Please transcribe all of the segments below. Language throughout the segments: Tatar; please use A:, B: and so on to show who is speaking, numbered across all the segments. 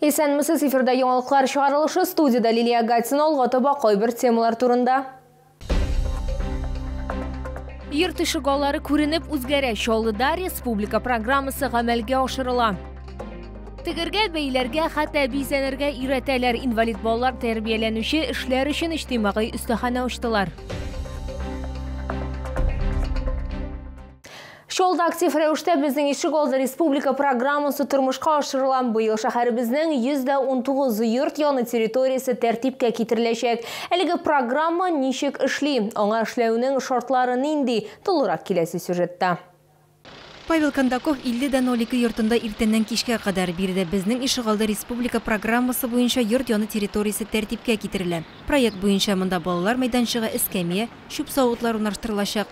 A: Исәнмесез, эфирда яңалыклар чыгарылышы, студиядә Лилия Гатина, алга таба кайбер темалар турында. Йорт тишек аллары күренеп үзгәрә. Чаллыда республика программасы гамәлгә ашырыла. Тегергә, бәйләргә, хәтта бизәнергә өйрәтәләр. Инвалид балалар тәрбияләнүче эшләр өчен иҗтимагый өстәханә ачтылар. Шул да актив рәвештә безнең ишегалды республика программасы тормышка ашырыла. Быел шәһәребезнең 119 йорт яны территориясе тәртипкә китереләчәк. Әлеге программа ничек эшли, аңа эшләүнең шартлары нинди, тулырак киләсе сюжетта. Павел
B: Кондаков 50 дә 02 йортында иртәннән кичкә кадәр. Биредә безнең ишегалды республика программасы буенча йорт яны территориясе тәртипкә китерелә. Проект буенча монда балалар мәйданчыгы, эскәмия, чүп савытлар урнаштырылачак.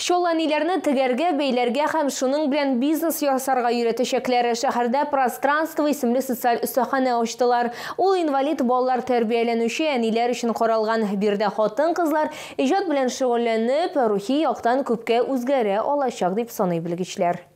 A: Чал әниләрне тегәргә, бәйләргә һәм шуның белән бизнес ясарга өйрәтәчәкләр. Шәһәрдә Пространство исемле социаль остаханә ачтылар. Ул инвалид балалар тәрбияләнүче әниләр өчен каралган. Биредә хатын-кызлар иҗат белән шөгыльләнеп, рухи яктан күпкә үзгәрә алачак, дип саный белгечләр.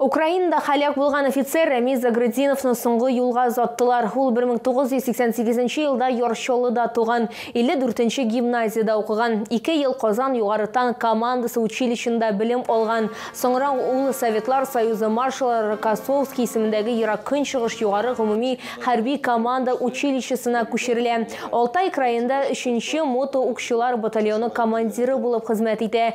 A: Украинада халәк булган офицер Рәмиз Загрыдиновны соңгы юлга озаттылар. Ул 1988 елда Ярчолыда туган, 54 гимназиядә укыган, ике ел Казан югары танк командасы училищенда белем алган. Соңра ул Советлар Союзы маршалы Рокоссовский исемендәге Ерак Көнчыгыш югары гомуми хәрби команда училищесына күчерелә. Алтай краенда 3 нче мото-укчылар батальоны командиры булып хезмәт итә.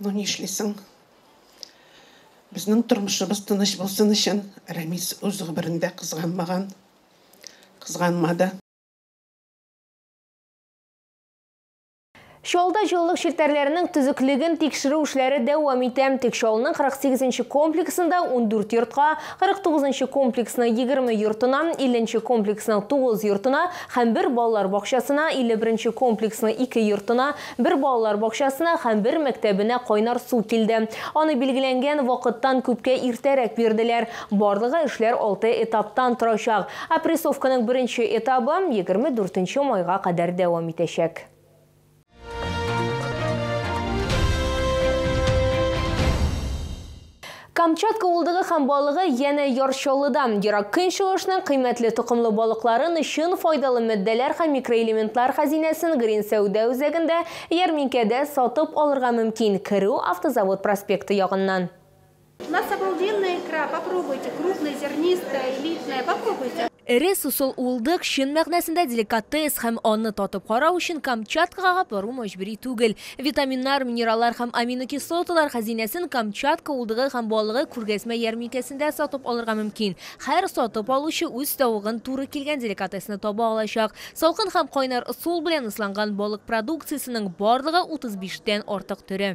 C: Ну нишлисең? Безнең тормышыбыз тыныч булсын өчен Рәмис үз гомерендә кызганмаган, кызганмады.
A: Чаллыда җылылык челтәрләренең төзеклеген тикшерү эшләре дәвам итә. Тик Чаллының 48 нче комплексында ундүрт йортка, 49 нчы комплексның егерме йортына, 50 нче комплексның тугыз йортына һәм бер балалар бакчасына, 51 нче комплексның ике йортына, Бер балалар бакчасына һәм бер мәктәбенә кайнар су килде. Аны билгеләнгән вакыттан күпкә иртәрәк бирделәр. Барлыгы эшләр алты этаптан торачак. Опрессовканың беренче этабы егерме дүртенче майга кадәр дәвам итәчәк. Камчатка улдыгы һәм балыгы янә Яр Чаллыда. Ерак Көнчыгышның кыйммәтле токымлы балыкларын, чын файдалы матдәләр һәм микроэлементлар хәзинәсен Грин сәүдә үзәгендә, ярминкәдә, сатып алырга мөмкин, керү Автозавод проспекты ягыннан. У нас
D: обалденная икра, попробуйте, крупная, зернистая, элитная, попробуйте. Эре сусыл
A: уылдык, чын мәгънәсендә деликатес, һәм аны татып карау өчен Камчаткага бару мәҗбүри түгел. Витаминнар, минераллар һәм аминокислоталар хәзинәсен Камчатка уылдыгы һәм балыгы күргәзмә ярминкәсендә сатып алырга мөмкин. Һәр сатып алучы үз тавыгын туры килгән деликатесны таба алачак. Салкын һәм кайнар ысул белән ысланган балык продукциясенең барлыгы 35 тән артык төре.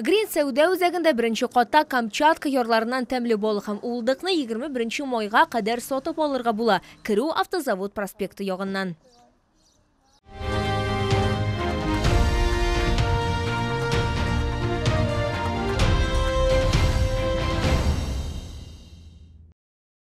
D: Грин сәүдә
A: үзәгендә беренче катта Камчатка ярларыннан тәмле бал һәм уылдыкны 21 майга кадәр сатып алырга була, керү Автозавод проспекты ягыннан.